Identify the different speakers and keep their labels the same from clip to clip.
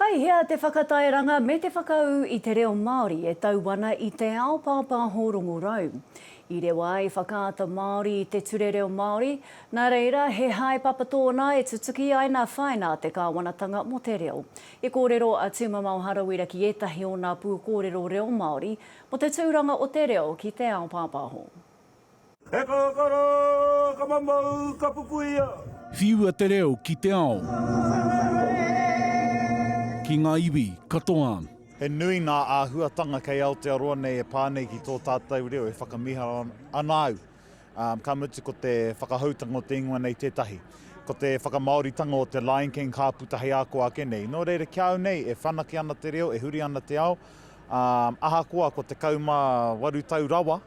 Speaker 1: Kei hea te whakatairanga me te whakaū i te reo Māori e tau ana i te ao pāpāho rongorau? I rewa ai Whakaata Māori i te Ture Reo Māori, nā reira, he haepapa tōna e tutuki ai nā whaina a te kāwanatanga mō te reo. I kōrero a Tūmamao Harawira ki ētahi o nā pūkōrero reo Māori mō te tūranga o te reo ki te ao pāpāho. He
Speaker 2: kakara, ka mamau, ka pupuia. Whiua te reo
Speaker 3: ki te ao. Ki ngā iwi katoa. He nui ngā
Speaker 4: āhuatanga kei Aotearoa nei e pā nei ki tō tātou reo e whakamiharo ana au, ka mutu ko te whakahoutanga o te ingoa nei tētahi. Ko te whakamāoritanga o te Lion King ka puta hei ako ake nei. Nō reira, ki a au nei, e whanake ana te reo, e huri ana te ao, ā, ahakoa ko 18 tau rawa,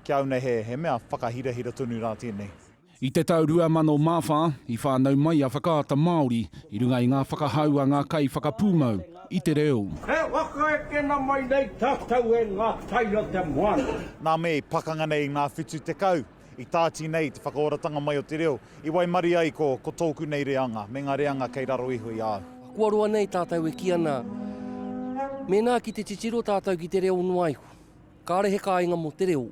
Speaker 4: Ki a au nei he, he mea whakahirahira tonu rā tēnei. I te tau
Speaker 3: 2004, i whānau mai a Whakaata Māori i runga i ngā whakahau a ngā kaiwhakapūmau i te reo. E whaka
Speaker 2: ekena mai nei tātou e ngā tai o te moana. Nā me i pakanga
Speaker 4: nei i ngā whitu tekau, i tāti nei te whakaoratanga mai o te reo, i waimarie ai ko, ko tōku nei reanga, me ngā reanga kei raro iho i a au. Kua roa nei tātou
Speaker 5: e kī ana, mēnā ki te titiro tātou ki te reo noa iho, Kāre he kāinga mō te reo,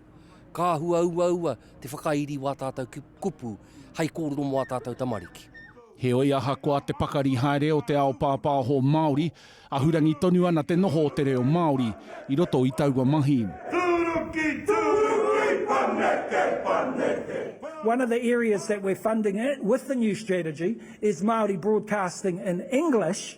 Speaker 5: ka hua uaua te whakairi wā tātou kupu hai kōrero mō ā tātou tamariki. Heoi, ahakoa
Speaker 3: te pakari haere o te ao pāpāho Māori, ahurangi tonu ana te noho o te reo Māori i roto i taua mahi. Tūruki, tūruki, paneke,
Speaker 6: paneke. One of the areas that we're funding with the new strategy is Māori broadcasting in English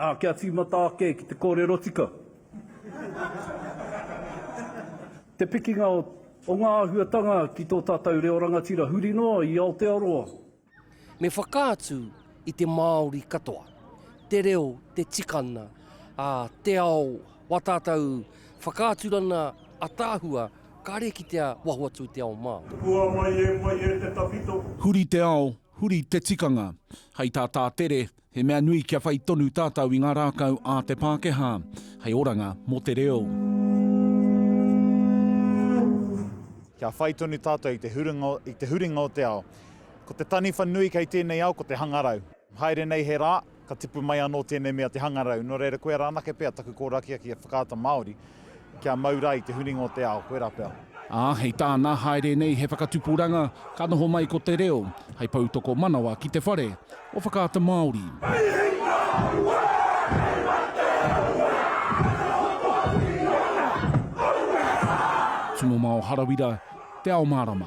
Speaker 2: Ā, kia tīmata ake ki te kōrero tika. Te pikinga o ngā āhuatanga ki tō tātou reo rangatira huri noa i Aotearoa. Me
Speaker 5: whakaatu i te Māori katoa, te reo, te tikanga, ā, te ao wā tātou whakaaturana ataahua kāre kitea waho atu i te ao Māori. Hua mai e mai
Speaker 2: e te tawhito. Huri te ao,
Speaker 3: huri te tikanga. Hei tā Tātere, He mea nui kia whai tonu tātou i ngā rākau a te Pākehā hei oranga mō te reo.
Speaker 4: Kia whai tonu tātou i te huringa, i te huringa o te ao. Ko te taniwha nui kei tēnei ao ko te hangarau. Haere nei he rā, ka tipu mai anō tēnei mea te hangarau. Nō reira, koia rā anake pea taku kōrakiaki e Whakaata Māori. Kia mau ra i te huringa o te ao, koira pea. Ā, hei tāna,
Speaker 3: haere nei he whakatupuranga, ka noho mai ko te reo, hei poutokomanawa ki te whare o Whakaata Māori. Hei hinga aua, hei mate aua, noho Māori i ōna ahurea. Timo Mao Harawira, Te Ao Mārama.